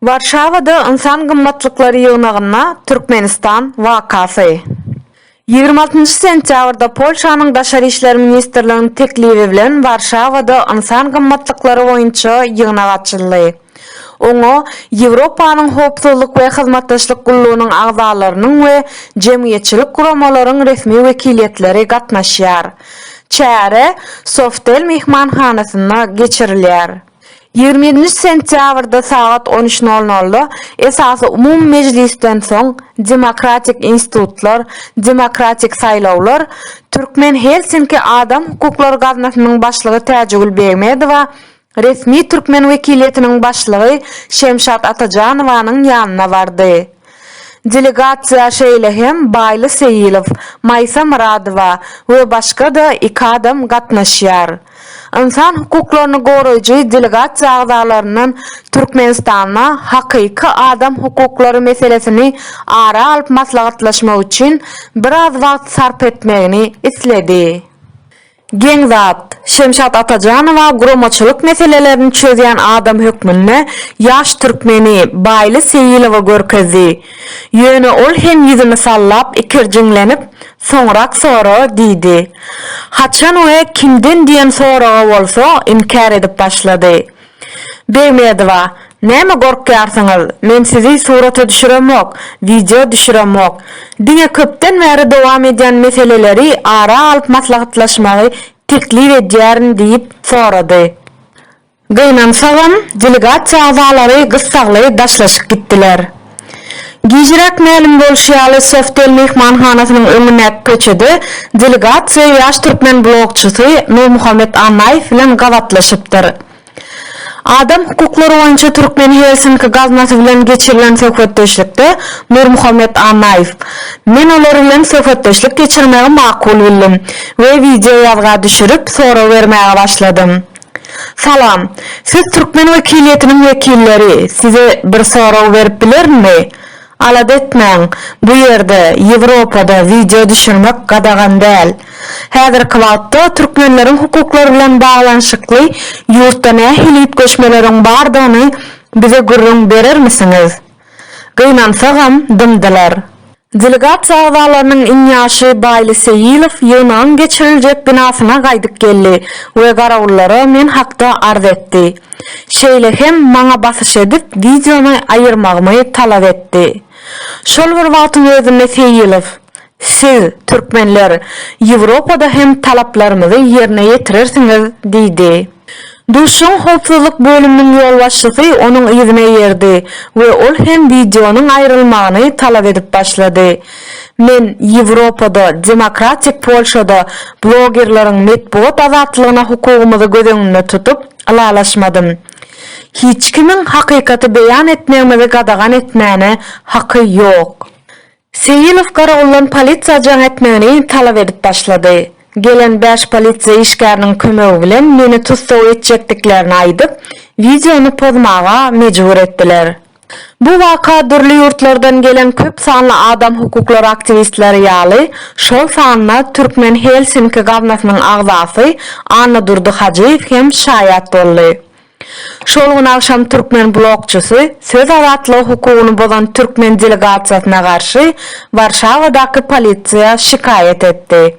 Warşawada Ynsan gymmatlyklary ýygnagynda Türkmenistan wakasy. Ýigrimi altynjy sentýabrda Polşanyň Daşary işler ministrliginiň teklibi bilen Warşawada Ynsan gymmatlyklary boýunça ýygnak açyldy. Oňa Ýewropanyň Howpsuzlyk we Hyzmatdaşlyk Gullugynyň agzalarynyň we jemgyýetçilik guramalaryň resmi wekiliýetleri gatnaşýar. Çäre Softel myhmanhanasynda geçirilýär. Ýigrimi ýedinji sentýabrda sagat on üç nol nolda esasy umumy mejlisden soň Demokratik institutlar, demokratik saýlawlar Türkmen Helsinki Adam hukuklary gaznasynyň başlygy Täjigül Begmedowa Resmi türkmen wekiliýetiniň başlygy Şemşat Atajanowanyň ýanyna bardy. Delegasiýa şeýle hem Baýly Seýilow, Maýsa Myradowa we başga-da iki adam gatnaşýar. Ynsan hukuklaryny goraýjy delegasiýa agzalaryndan Türkmenistanda hakyky adam hukuklary meselesini ara alyp maslahatlaşmak üçin biraz wagt sarp etmegini isledi. Geň zat. Şemşat Atajanowa guramaçylyk meselelerini çözýän adam hökmünde ýaş türkmeni Baýly Seýilowy görkezdi. Ýöne ol hem ýüzüni sallap ikirjiňlenip, Soňrak sora diýdi. Haçan we kimden diýen soraga bolsa inkär edip başlady. Begmedowa, Näme gorkýarsyňyz, men sizi surata düşüremok, wideo düşüremok. Diňe köpden bäri dowam edýän meseleleri ara alyp maslahatlaşmagy teklip edýärin diýip sorady. Gynansagam, delegasiýa agzalary gyssagly daşlaşyp gitdiler. Gijiräk mälim bolşy ýaly, Softel myhmanhanasynyň öňündäki köçede delegasiýa ýaş türkmen blogçysy Nurmuhammet Annaýew bilen gabatlaşypdyr. Adam hukuklary boýunça Türkmen Helsinki gaznasy bilen geçirilen söhbetdeşlikde Nurmuhammet Annaýew, Men olar bilen söhbetdeşlik geçirmegi makul bildim we wideoýazga düşürip, sorag bermäge başladym. Salam. Siz türkmen wekiliýetiniň wekilleri, size bir sorag berip bilerinmi? Alada etmäň, bu ýerde, Ýewropada wideo düşürmek gadagan däl. Häzirki wagtda türkmenleriň hukuklary bilen baglanyşykly ýurtda nähili üýtgeşmeleriň bardygyny bize gürrüň berermisiňiz? Gynansagam dymdylar. Delegasiýa agzalarynyň iň ýaşy Baýly Seýilow ýygnagyň geçiriljek binasyna gaýdyp geldi we garawullara men hakda arz etdi. Şeýle hem maňa basyş edip wideony aýyrmagymy talap etdi. Şol bir wagtyň özünde Seýilow, Siz, türkmenler, Ýewropada hem talaplarymyzy ýerine ýetirersiňiz diýdi. Duşuşygyň howpsuzlyk bölüminiň ýolbaşçysy onuň yzyna eýerdi we ol hem wideonyň aýrylmagyny talap edip başlady. Men Ýewropada, demokratik Polşada blogerleriň metbugat azatlygyna hukugymyzy göz öňünde tutup, ylalaşmadym. Hiç kimiň hakykaty beýan etmegimizi gadagan etmäne haky ýok. Seýilow garawuldan polisiýa jaň etmegini talap edip başlady. Gelen bäş polisiýa işgäriniň kömegi bilen meni tussag etjekdiklerini aýdyp, wideony pozmaga mejbur etdiler. Bu waka dürli ýurtlardan gelen köp sanly adam hukuklary aktiwistleri ýaly, şol sanda Türkmen Helsinki gaznasynyň agzasy Annadurdy Hajyýew hem şaýat boldy. Şol gün agşam türkmen blogçysy söz azatlygy hukugyny bozan türkmen delegasiýasyna garşy Warşawadaky polisiýa şikaýat etdi.